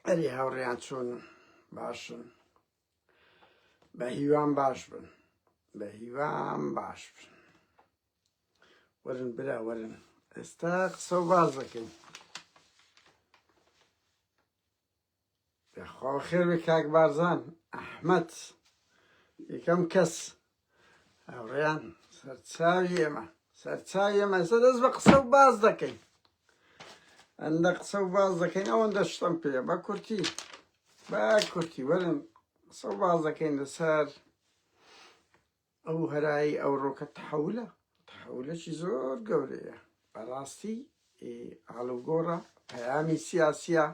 ئەری هاوڕێیان چۆن باشن بە هیوام باش بن بە هیوام باش بن وەرن برا وەرن ئێستا قسە و باز دەکەین خوا خێر بێ کاک بارزان ئەحمەد یەکەم کەس هاوڕێیان سەرچاوی ئێمە سەرچاوی ئێمە ئێستا دەست بە قسە و باز دەکەین ئەندە قسە و باز دەکەین ئەوەندە شتم پێ بە کورتی بە کورتی وەرن قسە و باز دەکەین لەسەر ئەو هەرای ئەوڕۆکە تەحولە تەحولەکی زۆر گەورەیە بەڕاستی ئالوگۆڕە پەیامی سیاسیە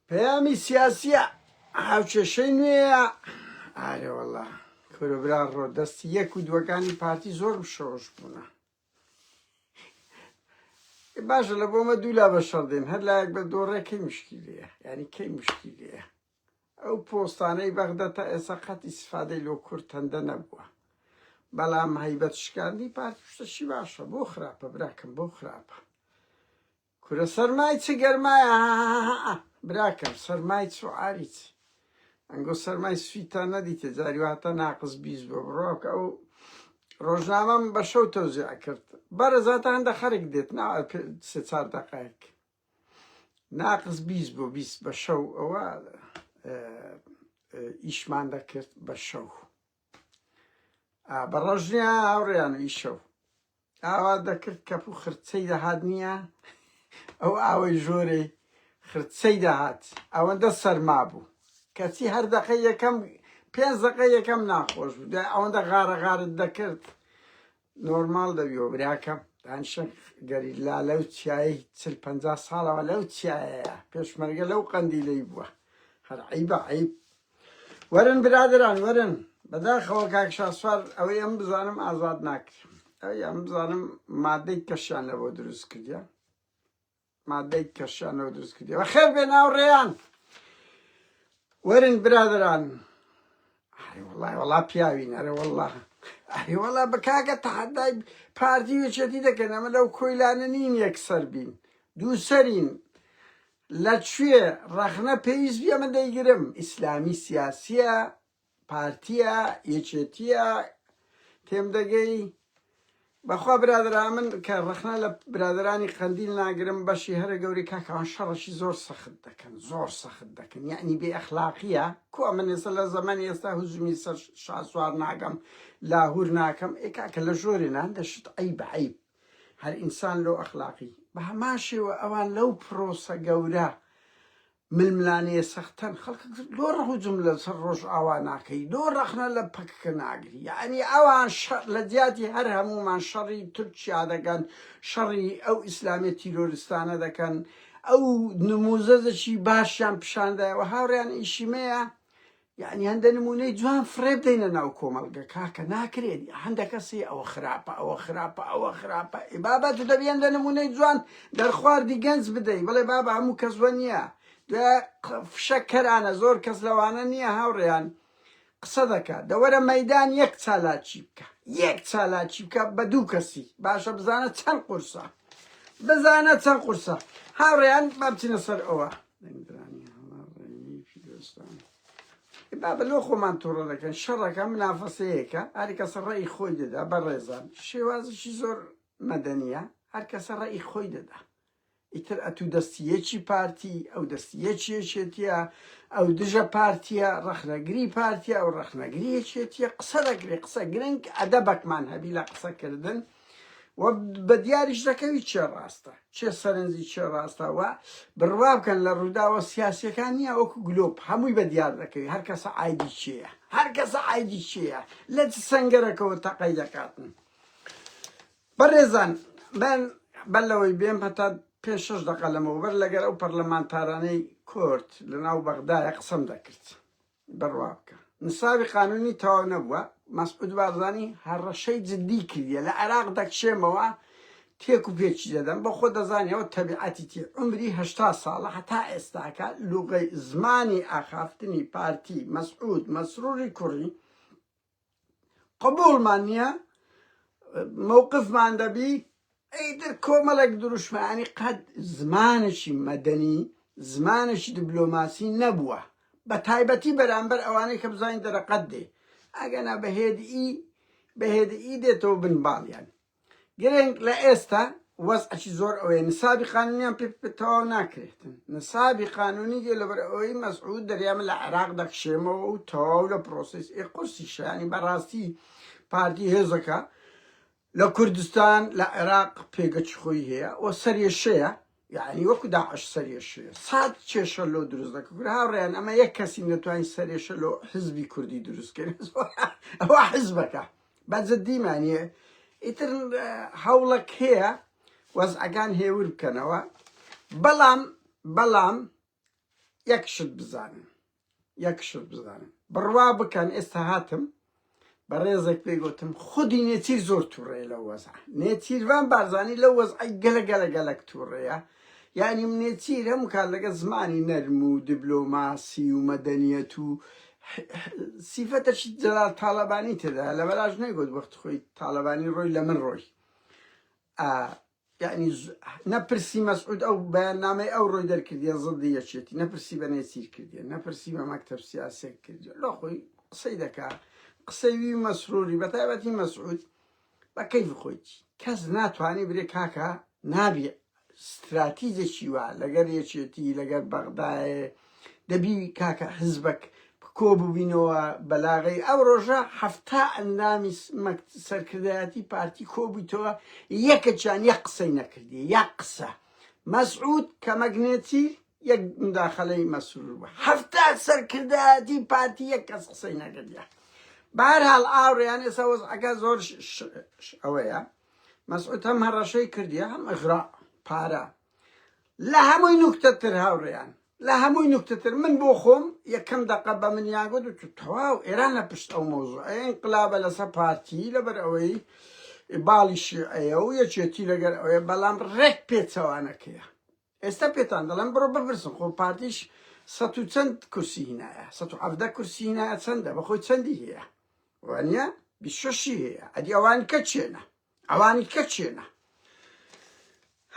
پەیامی سیاسیە هاوکێشەی نوێە ئارێوەڵا کوربرا ڕۆ دەستی یەک و دووەکانی پارتی زۆر بشەوەش بوونە باشە لە بۆمە دوولا بە شەڕدێن هەر لایەک بە دۆڕێ کەی مشکیلەیە یعنی کەی مشکیلەیە ئەو پۆستانەی بەغدا تا ئێستا قەت ئیستفادەی لۆ کورد هەندە نەبووە بەڵام هەیبەت شکاندی پارتی شتەشی باشە بۆ خراپە براکەم بۆ خراپە کورە سەرمای چ گەرمایە براکەم سەرمای چ عاری چ ئەنگۆ سەرمای سویتا نەدیتە جاری واتە ناقز بیز بۆ بڕۆک ئەو ڕۆژنامەم بە شەو تەوزیع کرد بەرەزاتە هەندە خەرک دێت نا سێ چار دەقایک ناقس بیست بۆ بیست بە شەو ئەوە ئیشمان دەکرد بە شەو بە ڕۆژنیە هاوڕێیان و ئیشەو ئاوا دەکرد کەپ و خرچەی دەهات نییە ئەو ئاوەی ژۆرەی خرچەی دەهات ئەوەندە سەرما بوو کەچی هەر دەقە یەکەم پێنج دەقە یەکەم ناخۆش بوو ئەوەندە غارە غارت دەکرد نۆرماڵ دەبیەوە براکەم دانشە گەریلا لەو چیایی چل پەنجا ساڵەوە لەو چیایەیە پێشمەرگە لەو قەندیلەی بووە هەر عیبە عیب وەرن برادران وەرن بەداخەوە کاک شاسوار ئەوەی ئەم بزانم ئازاد ناکرێت ئەوەی ئەم بزانم مادەی کەشیان لەوە دروست کردیان مادەی کەشانەوە دروست کردیەوە خێر بێ ناوڕێیان وەرن برادران وڵای وڵا پیاوین ئەرە وڵا ئەری وڵا بکاگە تەحەدای پارتی وچێتی دەکەن ئەمە لەو کۆیلانە نین یەکسەر بین دووسەرین لە کوێ ڕەخنە پێویست بێمە دەیگرم ئیسلامی سیاسیە پارتیە یەکێتیە تێم دەگەی بەخوا برادرا من کە ڕخنا لە برادرانی قەندیل ناگرم بەشی هەرە گەوری کاکەوان شەڕەشی زۆر سەخت دەکەن زۆر سەخت دەکەن یعنی بێ ئەخلاقیە کو من ێستا لە زەمەن ئێستا هزمی سەر شاسوار ناگەم لاهور ناکەم ئێکاکە لە ژۆرێ نان دەشت ئەی بەعیب هەر ئینسان لۆ ئەخلاقی بە هەمان شێوە ئەوان لەو پرۆسە گەورە ململانێ سەختەن خەڵکە زۆر هجوم لە سەر ڕۆژئاوا ناکەی زۆر ڕەخنە لە پەککە ناگری یانی ئەوان شەر لە جیاتی هەر هەموومان شەڕی تورکیا دەکەن شەڕی ئەو ئیسلامێ تیرۆرستانە دەکەن ئەو نموزەزەکی باشیان پیشاندایەوە هاوڕێیان ئیشیمەیە یانی هەندە نمونەی جوان فڕێ بدەینە ناو کۆمەڵگە کاکە ناکرێت هەندە کەسی ئەوە خراپە ئەوە خراپە ئەوە خراپە ئی بابا تو دەبی هەندە نمونەی جوان دەرخواردی گەنج بدەی بڵێ بابا هەموو کەس وە نییە دوێ فشەکەرانە زۆر کەس لەوانە نییە هاوڕێیان قسە دەکات دەوەرە مەدان یەک چالاکی بکە یەک چالاکی بکە بە دوو کەسی باشە بزانە چەند قورسە بزانە چەند قورسە هاوڕێیان بابچینە سەر ئەوە دەنگدرانی هەڵە ڕێنویەکی دۆستانە. بابە لۆ خۆمان تۆڕە دەکەن شەڕەکە منافەسەیەکە هەرکەسە ڕێی خۆی دەدا بە ڕێزان شێوازشی زۆر مەدەنیە هەرکەسە ڕێی خۆی دەدا ئیتر ئەتوو دەستیەکی پارتی ئەو دەستیەکیەکێتیە ئەو دژە پارتیە ڕەخنەگری پارتیە ئەو ڕەخنەگریەکێتیە قسە دەگرێ قسە گرنگ ئەدەبەکمان هەبی لە قسەکردن و بە دیاریش دەکەوی چێ ڕاستە چێ سەرنجی چێ ڕاستە و بڕوا بکەن لە ڕووداوە سیاسەکان نییە وەکو گلۆپ هەمووی بە دیار دەکەوی هەر کەسە ئایدی چێە هەر کەسە ئایدی چێە لە سنگەرەکەەوە تەقەی دەکاتن بەڕێزان من بەر لەوەی بێم هەتا پێ شش دەقە لەمەوبەر لەگەر ئەو پەرلەمانتارانەی کورد لە ناو بەغدایە قسم دەکرد بڕوا بکە نسابی قانونی تەواو نەبووە مەسعود بارزانی هەڕەشەی جدی کردیە لە عێراق دەکشێمەوە تێک و پێچی دەدەم بە خۆ دەزانیەوە تەبیعەتیتی عمری هشتا ساڵە هەتا ئێستاکە لوغەی زمانی ئاخافتنی پارتی مەسعود مەسروری کوڕی قبوڵمان نیە مەوقفمان دەبی ئیتر کۆمەڵێک دروشمانی قەت زمانێکی مەدەنی زمانێکی دبلۆماسی نەبووە بە تایبەتی بەرامبەر ئەوانەی کە بزانین دەرەقەت دێ ئەگەنا بەهێدی بەهێدی دێتەوە بن باڵیان گرنگ لە ئێستا وەزعەکی زۆر ئەوەیە نسابی قانونیان پێ تەواو ناکرێتن نسابی قانونی دێ لەبەر ئەوەی مەسعود دەریامە لە عێراق دەکشێمەوە و تەواو لە پرۆسیس ئێ قورسی شانی بەڕاستی پارتی هێزەکە لە کوردستان لە عێراق پێگەچ خۆی هەیە و سەرێشەیە یەعنی وەکو داعش سەرێشێ سات کێشە لۆ دروست دەکە کورە هاوڕێیان ئەمە یەک کەسی نەتوانین سەرێشە لۆ حزبی کوردی دروست کرد ئەوە حزبەکە بەجددی مانیە ئیتر هەوڵەک هەیە وەزعەکان هێور بکەنەوە بەڵام بەڵام یەک شت بزانن یەک شت بزانن بڕوا بکەن ئێستا هاتم بەڕێزێک پێی گوتم خودی نێچیر زۆر تووڕێ لە وەزع نێچیروان بارزانانی لە وەزعی گەلە گەلە گەلک تووڕەیە یعنی منێچیر هەموو کار لەگە زمانی نەرم و دیبلۆماسی و مەدەنیەت و سیفەتەشی جەلال تاالبانی تێدا لە بەراژ نەگوت وەخت خۆی تاالبانی ڕۆی لە من ڕۆی یەعنی نە پرسی مەسعود ئەو بەیاننامەی ئەو ڕۆی دەرکردیە زڵدی یەکێتی نە پرسی بە نێچیر کردیە نە پرسی بە مەکتەب سیاسێک کردیە لۆ خۆی قسەی دەکا قسەی وی مەسروری بەتایبەتی مەسعود بە کەیف خۆیتی کەس ناتوانانی برێ کاکە نابێ ستراتیجێکی وا لەگەر یەکێتی لەگەر بەغدایە دەبی کاکە حزبەک کۆ ببینەوە بەلاغەی ئەو ڕۆژە حەفتا ئەندامی سەرکردایەتی پارتی کۆبوویتەوە یەکەچان یە قسەی نەکردی یا قسە مەسعود کەمەگنێتی یەک مداخلەی مەسرور بە هەفتا سەرکردایەتی پارتی یەک کەس قسەی نەکردە بارهاڵ ئاوڕیان ئێستا وەزعەکە زۆر ئەوەیە مەسعود هەم هەڕەشەی کردی هەم ئەغرا پارە لە هەمووی نوکتە تر هاوڕێیان لە هەمووی نوکتە تر من بۆ خۆم یەکەم دەقە بە منیان گوت و تەواو ئێران لە پشت ئەو مۆزوعە ئینقلابە لەسەر پارتی لەبەر ئەوەی باڵی شیعەیە و یەکێتی لەگەر ئەوەیە بەڵام ڕێک پێچەوانەکەیە ئێستا پێتان دەڵێم بڕۆ بپرسن خۆ پارتیش سە و چەند کورسی هینایە سە و حەفدە کورسی هینایە چەندە بەخۆی چەندی هەیە وانە بیشەشی هەیە ئەدی ئەوان کە چێنە ئەوانی کە چێنە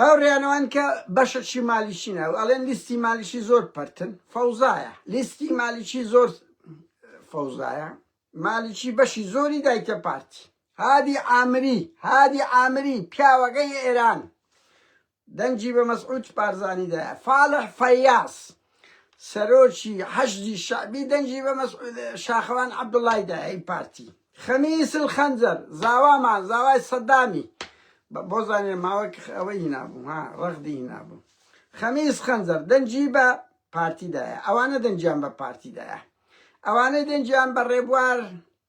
هاوریانەوان کە بەشە چی مالیشی ناو ئەڵێن لیستی مالیشی زۆر پەرتن فەوزایە لیستی مالیشی زۆر فەوزایە مالیشی بەشی زۆری دایتە پارتی هادی ئامری هادی ئامری پیاوەکەی ئێران دەنگی بە مەسعود بارزانی دایە. فالح فەیاز، سەرۆکی حەشدی شەعبی دەنگی بە مەسعود شاخەوان عەبدوڵای دایە ی پارتی. خەمیس الخنجر، زاوامان، زاوای سەدامی، بۆ زانیاری ماوەک ئەوەی هینابوو ها، رەغدی هینابوو. خەمیس خەنجەر دەنگی بە پارتی دایە. ئەوانە دەنگیان بە پارتی دایە. ئەوانەی دەنگیان بە رێبوار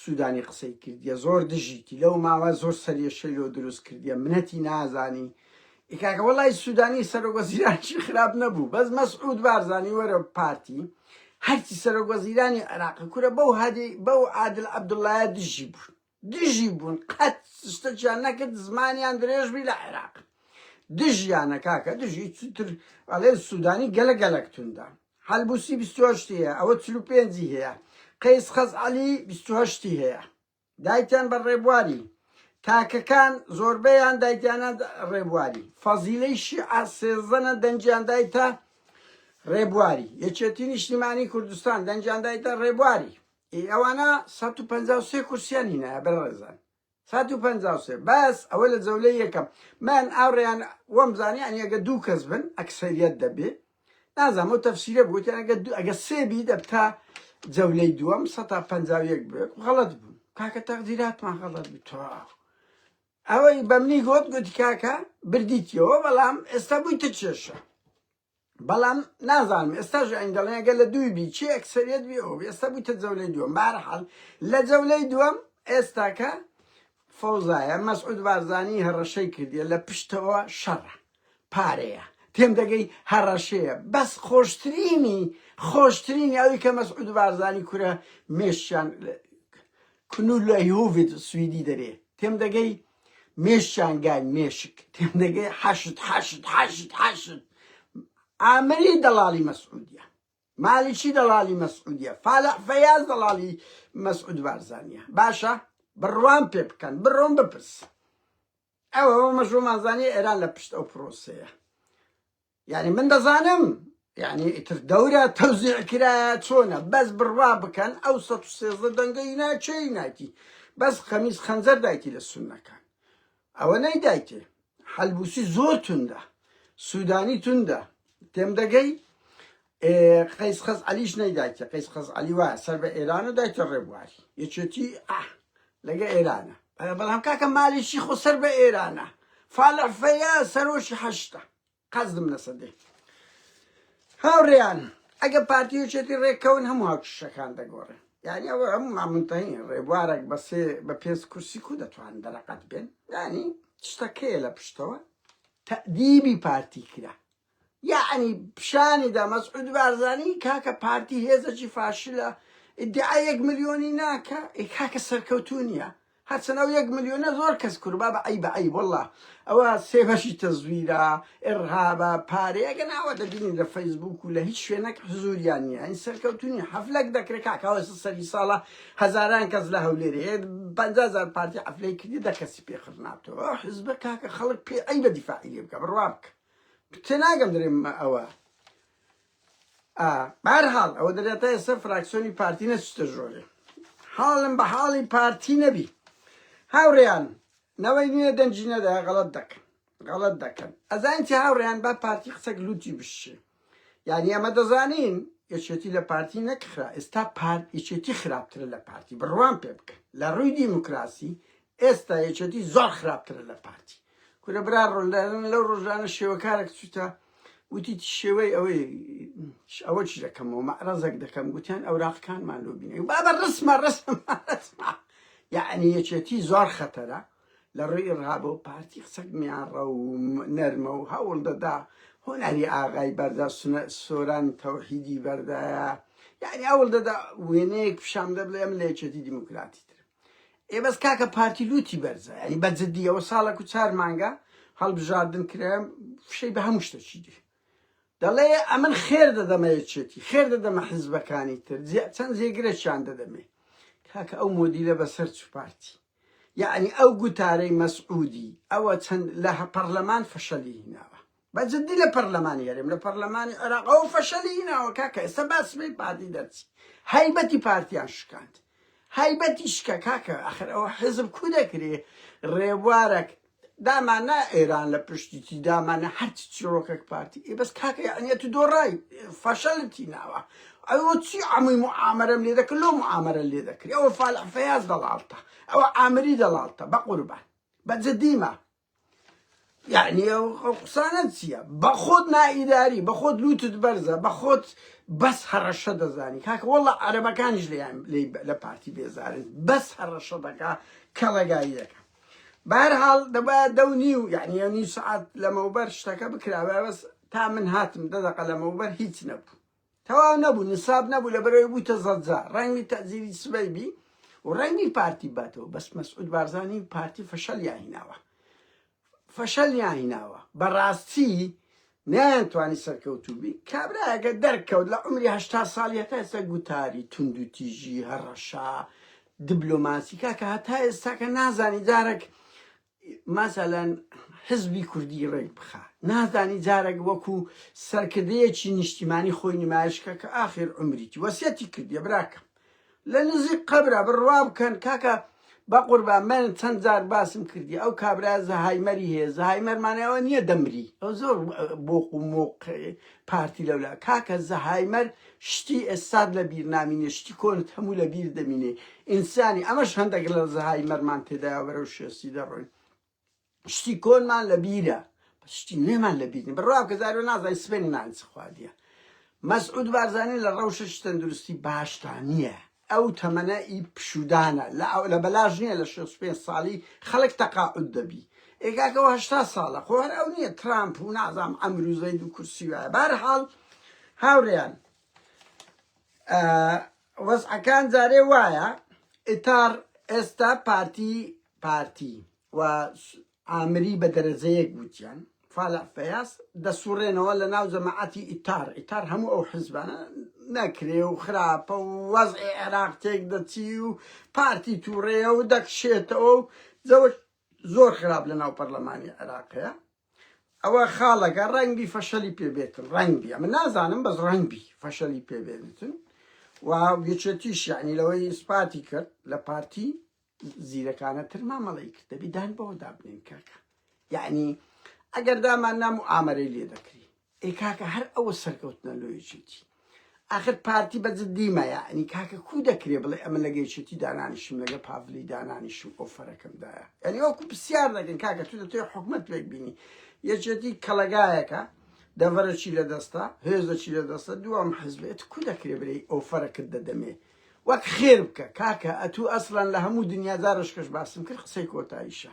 سودانی قسەی کردیە زۆر دژیتی لەو ماوە زۆر سەرێشەی لۆ دروست کردیە منەتی نازانی ئیکاکە وەڵی سودانی سەرۆک وەزیرانشی خراپ نەبوو بەس مەسعود بارزانی وەرە پارتی هەرچی سەرۆک وەزیرانی عێراق کورە بەو هادی بەو عادل عەبدوڵایە دژی بوون دژی بوون قەت شتەکیان نەکرد زمانیان درێژبی لە عێراق دژیانە کاکە دژی چتر ئەڵێ سودانی گەلە گەلەکتوندا حەلبوسی بیست و هەشت ی هەیە ئەوە چل و پێنج ی هەیە قەیس خەزعەلی بیست و هەشت ی هەیە دایتان بە ڕێبواری تاکەکان زۆربەیان دایتانە ڕێبواری فەزیلەی شیعە سێزدەنە دەنجیان دایتە ڕێبواری یەکێتی نیشتیمانی کوردستان دەنجیان دایتە ڕێبواری ئەوانە 153 کورسیانی نایە بەڕێزان سەد و پەنجا و سێ بەس ئەوە لە جەولەی یەکەم من ئاوڕیان وەم زانی یانی ئەگە دوو کەس بن ئەکسەریەت دەبێ نازانم ئەو تەفسیرە بوو یان ئەگە دوو ئەگە سێ بی دەبتا جەولەی دووەم سەد تا پەنجا و یەک بێک غەڵەت بوو کاکە تەقدیراتمان غەڵەت بوو تەواو ئەوەی بەمنی گوت گوتی کاکە بردیتیەوە بەڵام ئێستا بوویتە کێشە بەڵام نازانم ئێستاش ئەین دەڵێن گەل لە دووی بی چی ئەکسەریت بی ئەو ئێستا بوویتە جەولەی دووەم بارحال لە جەولەی دووەم ئێستاکە فەوزایە مەسعود بارزانی هەڕەشەی کردیە لە پشتەوە شەڕە پارەیە تێم دەگەی هەڕەشەیە بەس خۆشترینی خۆشترینی ئەوی کە مەسعود بارزانی کورە مێشیان کنول لە هوڤید سویدی دەرێ تێم دەگەی مێشکیان گای مێشک تێمدەگەی حەشد حەشد حەشد حەشد ئامری دەڵالی مەسعودیە مالیکی دەڵالی مەسعودیە فالح فەیاز دەڵالی مەسعود بارزانیە باشە بڕوان پێ بکەن بڕۆن بپرس ئەوە مەژۆ مازانی ئێران لە پشت ئەو پرۆسەیە یانی من دەزانم یعنی ئیتر دەورە تەوزیع کرایە چۆنە بەس بڕوا بکەن ئەو 113 دەنگەی ناچەی نایتی بەس خەمیز خەنجەر دایتی لە سونەکان ئەوە نەی دایتێ حەلبوسی زۆر توندە سوودانی توندە تێم دەگەی قەیس خەز علیش نەیدایکە قەیس خەز علی وایە سەر بە ئێران و دایکە ڕێبواری یەکێتی ئاه لەگە ئێرانە بەڵام کاکە مالیشی خۆ سەر بە ئێرانە فالەفەیە سەرۆشی هەشتە قەزدم لەسە دێ هاوڕێیان ئەگە پارتی و چێتی ڕێکەون هەموو هاوچشەکان دەگۆڕێ یعنی ئەوە هەموو مامنتەین ڕێبوارێک بەسێ بە پێنج کورسی کو دەتوان دەرەقەت بێن ینی شتەکەیە لە پشتەوە تەدیبی پارتی کرا یعنی پیشانی دا مەسعود بارزانی کاکە پارتی هێزەکی فاشلە ئیدعا یەک ملیۆنی ناکە ئێ کاکە سەرکەوتو نیە هەرچەن ئەو یەک ملیۆنە زۆر کەس کور بابە عەیبە عەیب واللە ئەوە سێ بەشی تەزویرە ئێڕهابە پارەیە گەنا ئەوە دەبینین لە فەیسبووک و لە هیچ شوێنەک حزوریان نییە ئەین سەرکەوتونی حەفلەک دەکرێت کاکە ئەوە سەری ساڵە هەزاران کەس لە هەولێرێ پەنجا هەزار پارتی حەفلەی کردی دە کەسی پێ خڕ نابتەوە ئەو حزبە کاکە خەڵک پێ عەیبە دیفاعی لێ بکە بڕوا بکە تێناگەم درێم ئەوە ئا بەرحاڵ ئەوە دەرێ تا ئێستا فراکسۆنی پارتی نەچتە ژۆرێ حاڵم بە حاڵی پارتی نەبی هاوڕێیان نەوەی نوێ دەنجی نەدا غەڵت دەکەن غەڵت دەکەن ئەزانتی هاوڕێیان با پارتی قسەک لوتی بشێ یعنی ئەمە دەزانین یەکێتی لە پارتی نەکخرا ئێستا پارت یەکێتی خراپترە لە پارتی بڕوان پێ بکە لە ڕووی دیموکراسی ئێستا یەکێتی زۆر خراپترە لە پارتی کورە برا ڕۆلدانن لەو ڕۆژانە شێوەکارێک چوتە وتی شێوەی ئەوەی ئەوە چ دەکەمەوە مەعرەزەک دەکەم گوتیان ئەوراقەکانمان لۆ بینێ بابە ڕسمە ڕسمە ڕسمە یعنی یەکێتی زۆر خەتەرە لە ڕێی ڕابە و پارتی قسەک میانڕە و نەرمە و هەوڵ دەدا هۆناری ئاغای بەردا سۆران تەوحیدی بەردایە یعنی هەوڵ دەدا وێنەیەک پیشان دەبڵێ ئەم لە یەکێتی دیموکراتی ترم ئێ بەس کاکە پارتی لوتی بەرزە ینی بە جدی ئەوە ساڵێک و چار مانگە هەڵبژاردن کرێم فشەی بە هەموو شتەچی دی دەڵێ ئەمن خێر دەدەمە یەکێتی خێر دەدەمە حیزبەکانی تر چەند جێگرەشیان دەدەمێ کاکە ئەو مۆدیلە بەسەر چ پارتی یعنی ئەو گوتارەی مەسعودی ئەوە چەند لە پەرلەمان فەشەلی هیناوە بە جدی لە پەرلەمانی هەرێم لە پەرلەمانی عێراق ئەو فەشەلی هیناوە کاکە ئێستا با سبەی پارتی دەرچی هەیبەتی پارتیان شکاند هەیبەتی شکە کاکە ئەخر ئەوە حزب کو دەکرێ ڕێبوارەک دامانە ئێران لە پشتیتی دامانە هەرچی چیرۆکەک پارتی ئێ بەس کاکە یعنیە تو دۆڕای فەشەلتی ناوە ئەوە چی ئەمووی معامرەم لێ دەکرد لۆ معامرە لێ دەکرێت ئەوە فالح فەیاز دەڵالتە ئەوە ئامری دەڵالتە بە قوربان بە جدیمە یەعنی ئەو ئەو قسانە چییە بە خۆت نائیداری بە خۆت لووتت بەرزە بە خۆت بەس هەڕەشە دەزانی کاکە وەڵا عەرەبەکانیش لێیان لێی بە- لە پارتی بێزارن بەس هەڕەشە دەکا کەڵەگایی دەکا بەرحاڵ دەبا دە و نیو یعنی یە نیو سعات لەمەوبەر شتەکە بکرابە بەس تا من هاتم دە دەقە لەمەوبەر هیچ نەبوو تەواو نەبوو نساب نەبوو لەبەرەوەی بوویتە زەجە ڕەنگی تەزیری سبەی بی و ڕەنگی پارتی باتەوە بەس مەسعود بارزانی و پارتی فەشەلیان هیناوە فەشەلیان هیناوە بەڕاستی نیان توانی سەرکەوتوو بی کابراەکە دەرکەوت لە عمری هشتا ساڵی هەتا ئێستا گوتاری تونند و تیژی هەڕەشا دبلۆماسیکا کە هەتا ئێستاکە نازانی جارێک مەسەلەن حزبی کوردی ڕێک بخا نازانی جارەک وەکو سەرکردەیەکی نیشتیمانی خۆی نمایشکە کە ئاخر عمریتی وەسیەتی کردیە براکەم لە نزیک قەبرە بڕوا بکەن کاکە بەقوربان من چەند جار باسم کردی ئەو کابرا زەهایمەری هەیە زەهایمەرمانەوە نییە دەمری ئەو زۆر بۆق و مۆق پارتی لەولا کاکە زەهایمەر شتی ئێستات لە بیر نامینێ شتی کۆنت هەموو لە بیر دەمینێ ئینسانی ئەمەش هەندەک لە زەهای مەرمان تێدایە بەرەو شێسی دەڕۆین شتی کۆنمان لە بیرە شتی نوێمان لە بیرنی بڕوا کە زارۆ نازای سبێنی نانچ خواردیە مەسعود بارزانانی لە ڕەوشە شتەندروستی باشتان نییە ئەو تەمەنە ئی پشودانە لە لە بەلاش نیە لە شەست پێنج ساڵی خەڵک تەقاعود دەبی ئێ کاکە ئەوە هەشتا ساڵە خۆ هەر ئەو نیە ترامپ و نازام عەمرو زەید و کورسی وایە بارحاڵ هاوریان وەزعەکان جارێ وایە ئیتار ئێستا پارتی پارتی و ئامری بە دەرەجەیەک گووتیان فالع فەیاس دەسوڕێنەوە لە ناو جەماعەتی ئیتار ئیتار هەموو ئەو حیزبانە نەکرێ و خراپە و وەزعی عێراق تێک دەچی و پارتی تووڕەیە و دەکشێتەوە و جەوەک زۆر خراپ لە ناو پەرلەمانی عێراقەیە ئەوە خاڵەکە ڕەنگبی فەشەلی پێبێتن ڕەنگبی ئەمە نازانم بەس ڕەنگبی فەشەلی پێبێنتن و یەکێتیش یعنی لەوەی ئیسپاتی کرد لە پارتی زیرەکانە تر مامەڵەی کرد دەبی دان بەوە دابنین کاکە یعنی ئەگەر دامان نام و ئامەرەی لێ دەکری ئەی کاکە هەر ئەوە سەرکەوتنە لۆیەکێتی آخر پارتی بە جدیمە یعنی کاکە کو دەکرێ بڵێ ئەمە لەگەیچێتی دانانیشم لەگە پاڤلی دانانیشم ئۆفەرەکەمدایە یعنی وەکو پرسیار دەکەن کاکە تو دەتوێ حکومت لێک بینی یەکێتی کەڵەگایەکە دەڤەرەکی لە دەستە هێزەکی لە دەستە دوام حزبێت کو دەکرێ برێ ئۆفەرەکرد دەدەمێ وەک خێر بکە کاکە ئەتوو ئەسڵەن لە هەموو دنیا زارۆش کەش باسم کرد قسەی کۆتاییشە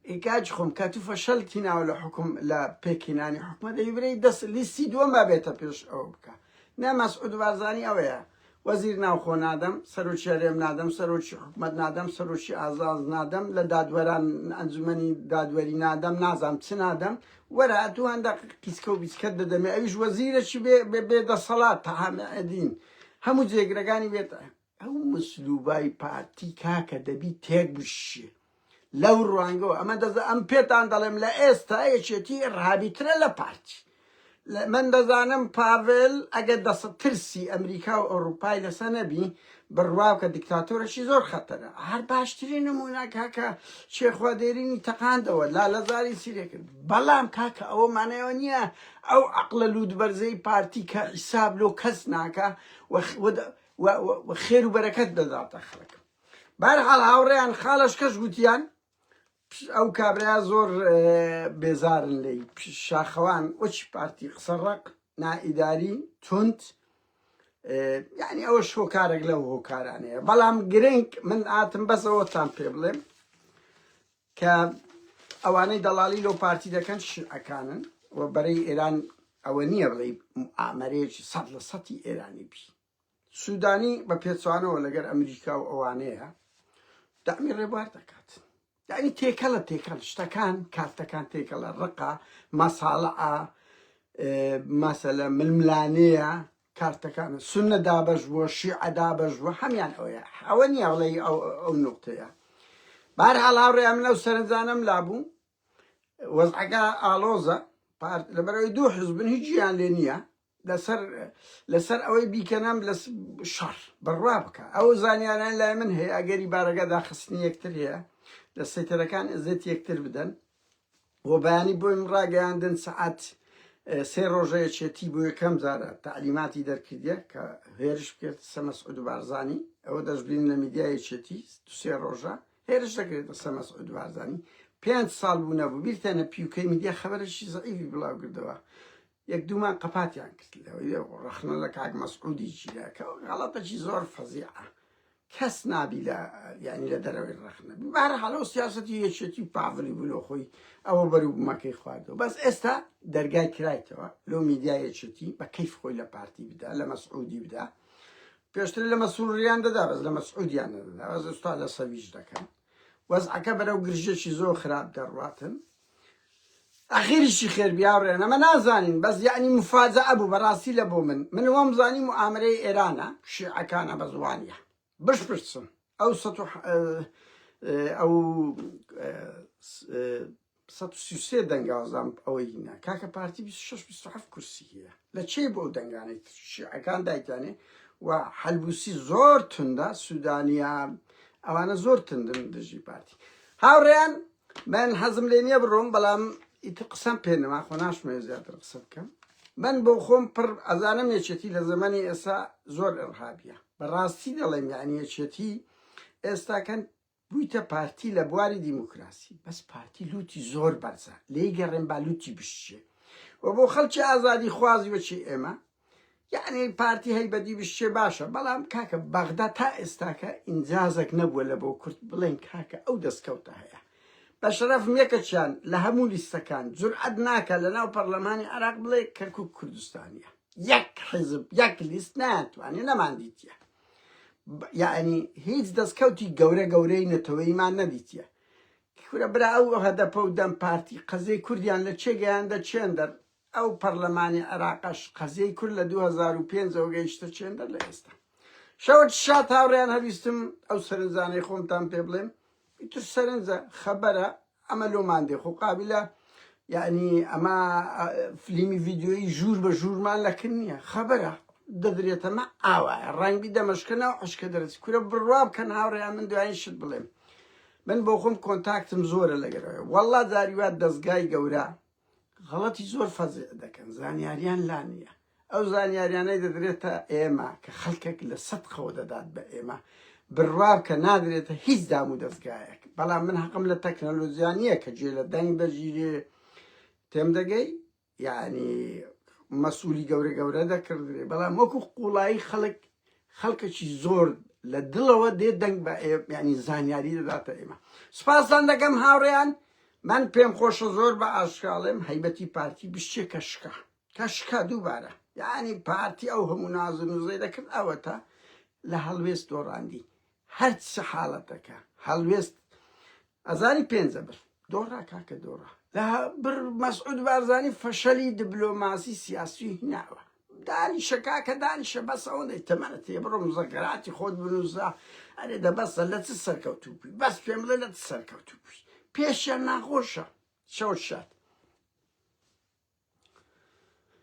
ای کاج خۆم کە تو فەشەل تیناوە لە حکوم لە پێکینانی حکومە دەیبرەی دەست لیستی دووەم با بێتە پێش ئەوە بکە نە مەسعود بارزانی ئەوەیە وەزیر ناوخۆ نادەم سەرۆکی هەرێم نادەم سەرۆکی حکومت نادەم سەرۆکی ئازاز نادەم لە دادوەران ئەنجومنی دادوەری نادەم نازام چ نادەم وەرە ئەتو هەندە قیسکە و بیسکەت دەدەمێ ئەویش وەزیرەکی بێ بێ دەسەڵات تەعامەدین هەموو جێگرەکانی وێتە ئەو مسلوبای پارتی کاکە دەبی تێک بشی لەو ڕوانگەوە ئەمە دەزە ئەم پێتان دەڵێم لە ئێستا یەکێتی ڕابیترە لە پارتی من دەزانم پاڤل ئەگە دەسە ترسی ئەمریکا و ئەوروپای لەسە نەبی بڕواکە دیکتاتۆرەشی زۆر خەتەرە هەر باشترین نمونە کاکە شێخوادێرینی تەقاندەوە لا لەزاری سیرێکرد بەڵام کاکە ئەوە مانەوە نییە ئەو عەقڵە لووتبەرزەی پارتی کە حیساب لۆ کەس ناکا و و خێر و بەرەکەت دەداتە خەڵک بارحاڵ هاوڕێیان خاڵش کەش گوتیان ئەو کابرایا زۆر بێزارن لی شاخەوان وەچ پارتی قسە ڕق نائیداری تونند یعنی ئەوە شۆکارێک لەو هۆکارانەیە بەڵام گرنگ من ئاتم بەسەوەتان پێ بڵێم کە ئەوانەی دەڵاڵی لەو پارتی دەکەن شیعەکانن و بەرەی ئێران ئەوە نییە بڵێی موئامەرەیەکی سەد لە سەتی ئێرانی بی سوودانی بە پێچوانەوە لەگەر ئەمریکا و ئەوانەیە دامی ڕێبوار دەکات یعنی تێکەڵە تێکەڵ شتەکان کارتەکان تێکەڵە ڕقا مەساڵعە مەسەلە ململانەیە کارتەکانە سوننە دابەش بووە شیعە دابەش بووە هەمان ئەوەیە ئەوە نییە بڵێ ئەو ئەو نقطەیە بارحاڵ هاوڕێ من ئەو سەرنجانم لابوو وەزعەکە ئالۆزە پارت لەبەرەوەی دوو حزبن هیچ گیان لێ نییە لەسەر لەسەر ئەوەی بیکەنام لە شەڕ بڕوا بکە ئەو زانیاران لای من هەیە ئەگەری بارەگە داخستنی یەکتر هەیە لە سەیتەرەکان ئەزێت یەکتر بدەن و بەیانی بۆیم ڕاگەیاندن سەعات سێ ڕۆژە یەکێتی بۆ یەکەم جارە تعلیماتی دەرکردە کە هێرش بکرد قسە مەسعود و بارزانی ئەوە دەشبین لە میدیا یەکێتی سێ ڕۆژە هێرش دەکرێت قسە مەسعود و بارزانی پێنج ساڵ بوو نەبوو بیرتانە پیوکەی میدیا خەبەرێکی زەعیفی بڵاو کردەوە یەک دوومان قەپاتیان کرد لەوەی ڕەخنە لە کاک مەسعودی چیرە کە غەڵەتەکی زۆر فەزیعە کەس نابی لە یعنی لە دەرەوەی ڕەخنە بار حاڵەوە سیاستی یەکێتی پاڤلی بلۆ خۆی ئەوە بەروبمەکەی خواردەوە بەس ئێستا دەرگای کرایتەوە لۆ میدیا یەکێتی بە کەیف خۆی لە پارتی بدا لە مەسعودی بدا پێشتر لە مەسووریان دەدا بەس لە مەسعودیان نەدەدا بەس ئێستا لە سەویش دەکەن وەزعەکە بەرەو گرژێکی زۆر خراپ دەڕاتن ئەخیر چی خێر بیاوڕێن ئەمە نازانین بەس یەعنی مفاجەئە بوو بەڕاستی لە بۆ من من وام زانی موئامرەی ئێرانە شیعەکانە بەس وانیە بشپرسن ئەو سەد و ئەو سەد و سی و سێ دەنگاوزام ئەوەی نا کاکە پارتی بیست و شەش بیست و هەفت کورسی هەیە لە چی بۆ ئەو دەنگانەی شیعەکان دایتانێ و حەلبوسی زۆر توندا سوودانیا ئەوانە زۆر تندن دژی پارتی هاوڕێیان من حەزم لێ نییە بڕۆم بەڵام ئیتر قسەم پێ نەما خۆ ناشمەوێت زیاتر قسە بکەم من بۆ خۆم پڕ ئەزانم یەکێتی لە زەمەنی ئێستا زۆر ئەڕهابە بەڕاستی دەڵێم یعنی یەکێتی ئێستاکەن بوویتە پارتی لە بواری دیموکراسی بەس پارتی لوتی زۆر بەرزە لێی گەڕێن با لوتی بشتێ و بۆ خەڵکی ئازادی خوازی وەچی ئێمە یعنی پارتی هەی بەدی بشێ باشە بەڵام کاکە بەغدا تا ئێستاکە ئینجازێک نەبووە لە بۆ کورد بڵێن کاکە ئەو دەستکەوتە هەیە بە شەرەف یەکەچیان لە هەموو لیستەکان جورعەت ناکە لە ناو پەرلەمانی عراق بڵێ کەرکک کوردستانیە یەک حزب یەک لیست ناتوانێ نەمان دیتە یعنی هیچ دەستکەوتی گەورە گەورەی نەتەوەیمان نەدیتە کورە برا ئەو هەدەپە و دەم پارتی قەزەی کوردیان لە چێگەیان دەچێن دەر ئەو پەڕلەمانی عێراقەش قەزیەی کورد لە دوو هەزار و پێنج ەوە گەیشتە چێندەر لە ئێستا شەوت شات هاوڕێیان هەویستم ئەو سەرنجانەی خۆمتان پێ بڵێم ئیتر سەرنجە خەبەرە ئەمە لۆمان دێ خۆ قابلە یعنی ئەمە فلیمی ڤیددیۆی ژوور بە ژوورمان لەکن نییە خەبەرە دەدرێتەمە ئاوایە ڕەنگبی دەمەشکەنەوە عشکە دەرەچ کورە بڕوا بکەن هاوڕێیان من دوایین شت بڵێم من بۆ خۆم کۆنتاکتم زۆرە لەگەرەوە والله داریوات دەستگای گەورە غەڵەتی زۆر فەزع دەکەن زانیاریان لا نییە ئەو زانیاریانەی دەدرێتە ئێمە کە خەڵکێک لە سەد قەوە دەدات بە ئێمە بڕواب کە نادرێتە هیچ دام و دەستگایەک بەڵام من حەقم لە تەکنەلۆزیانە کە جێ لە دەنگ دەژیرێ تێم دەگەی یعنی مەسوولی گەورە گەورە دەکردێ بەڵام وەکو قوڵایی خەڵک خەڵکەکی زۆر لە دڵەوە دێ دەنگ بە یانی زانیاری دەداتە ئێمە سپاسان دەکەم هاوڕێیان من پێم خۆشە زۆر بە ئاشکاڵێم هەیبەتی پارتی بشتێ کە شکا کە شکا دووبارە یعنی پارتی ئەو هەموو نازن و زەی دەکرد ئەوەتە لە هەڵوێست دۆڕاندی هەرچ حاڵەتەکە هەڵوێست ئەزانی پێنجە بر دۆڕا کاکە دۆڕا لە بر مەسعود بارزانی فەشەلی دبلۆماسی سیاسی هیناوە دانیشە کاکە دانیشە بەس ئەوەندەی تەمەە تێ بڕۆ مزەگەراتی خۆت بنووسە ئەرێ دە بەسە لە چ سەرکەوتوبی بەس پێم بڵێ لە چ سەرکەوتوبی پێشیان ناخۆشە شەو شات